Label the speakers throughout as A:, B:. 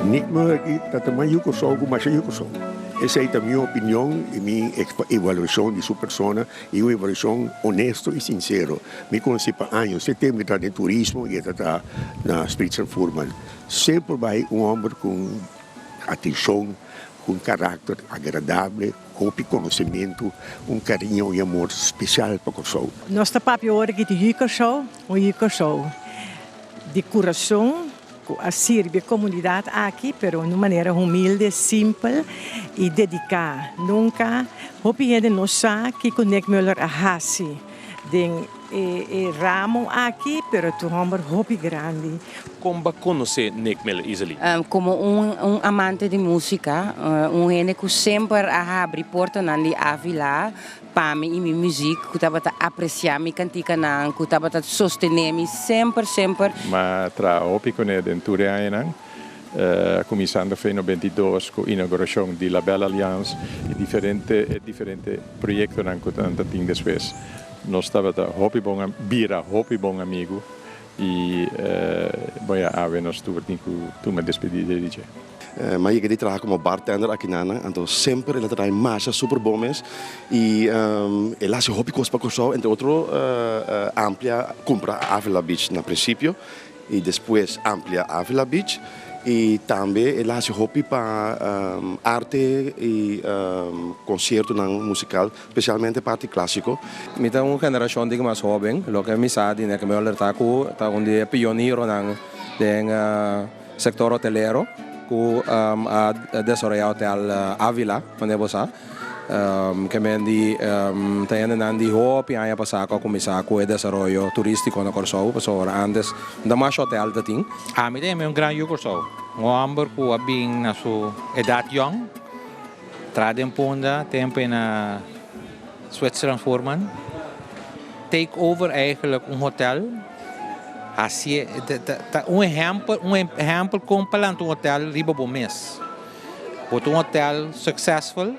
A: Nigma aki ta ta mas yu Kòrsou ku masha yu Kòrsou. Esei ta mi opinion i mi evaluashon di su persona, i un evaluashon onesto i sinsero. Mi konsi pa años, e tempu i ta den turismo i e ta ta na Spritz and Furman. Semper bai un hòmber ku atenshon, ku un karakter agradable, ku hopi konosementu, un kariño i amor spesial pa Kòrsou. Nos ta papia ora
B: di yu Kòrsou, un yu Kòrsou. Di kurason ku a sirbi e komunidat aki, pero un manera humilde, simpel i dediká. Nunka hopi hende no sa kiko Nick Muller a hasi den e ramo aki, pero e ta un hòmber hopi grandi. Kon bo a konosé
C: Nick Miller, Izaly? Komo
D: un amante di músika, un hende ku semper a habri portonan di Ávila, Pa mi y mi muziek cu tabata aprecia mi canticanan cu tabata sostene mi semper semper. M'a
E: traha hopi cu ne den tur e añanan, cuminsando f'e nobenta i dos cu inauguracion di La Belle Alliance y diferente e diferente proyectonan cu nan ta tin despues. Nos tabata hopi bon, bira hopi bon amigu I bo ya awe nos tur tin ku tuma despedida di dje. M'a yega di traha
F: komo bartender akinanan, anto semper el a trai masha super bon mes. I el a hasi hopi kos pa Kòrsou, entre otro amplia kumpra Avila Beach na prinsipio i despues amplia Avila Beach. I tambe el a hasi hopi pa arte i konsiertonan musikal Specialmente parti clásico. Mi ta un
G: generacion di mas hoben, loke mi sa di Nieke Mueller ta cu ta un di e pionironan den sector hotelero cu a desarrolla hotel Avila, manera bo sa ke men di ta hendenan di hopi aña pasa cu a cuminsa cu e desarrollo turistico na Corsou, pasobra ora antes ta masha hotel ta tin. Ami ta henbe un gran
H: yu Corsou, un homber cu a bin na su edad yong. Tra den punda tempo e na Zwitserland Voorman take over eigenlijk un hotel hacié ta un ehempel un ehempel kon pa lanta un hotel riba bo mes bo ta un hotel succesful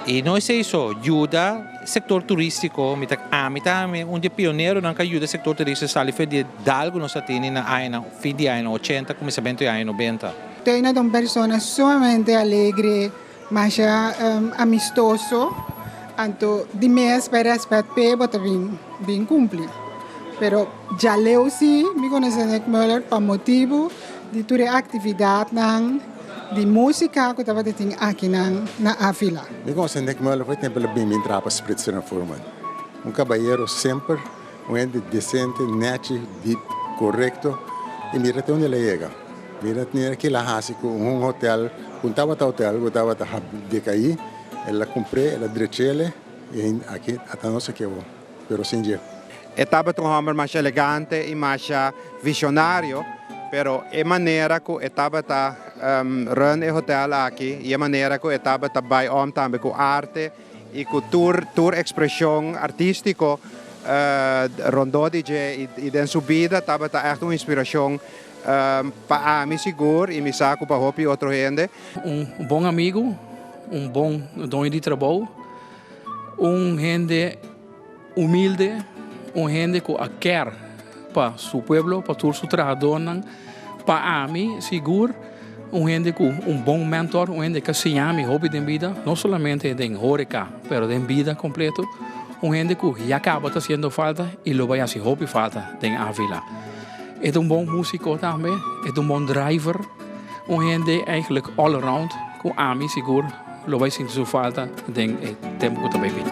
H: y no esey so yuda sector turistico mi ta ami ta ami un di e pioneronan ka yuda sector turistico sali fuer di e dalgo nos a tini na añanan fin di añanan ochenta cuminsamentu di aña nobenta. Teina ta un persona
I: sumamente alegre, masha amistoso, anto di mes p'e respet p'e bo ta bin bin kumpli. Pero djaleu si mi konosé Nick Muller pa motibu di tur e aktividatnan di músika ku tabata tin akinan na Avila. Mi konosé Nick Muller
J: for e tempu el a bin bin traha pa Spritzer en Furman. Un kabayero semper Un hende desente, nechi, dip, korekto i mira te unde el a yega. Mira mira kila a hasi ku un hotel ku no tabata hotel ku tabata dekaí, el a kumpr'é, el a drech'ele i aki a ta nos aki awo, pero sin dje. E tabata un hòmber
K: masha elegante i masha vishonario, pero e manera ku e tabata run e hotel aki i e manera ku e tabata bai òm tambe ku arte, y cu tur tur expresion artistico rondó di dje y den su bida tabata echt un inspiracion pa ami sigur y mi sa cu pa hopi otro hende. Un bon
L: amigo, un bon doño di trabou, un hende. Humilde, un hende cu a ker pa su pueblo, pa tur su trahadornan. Pa ami, sigur, un hende cu un bon mentor, un hende ca siña mi hopi den bida, no solamente den horeca, pero den bida completo. Un hende cu ya caba ta haciendo falta y lo bay haci hopi falta den Avila. E ta un bon musico tambe, e ta un bon driver, un hende eigenlijk all around cu ami sigur. Lo bai sinti su falta den e tempu ku ta bai bini.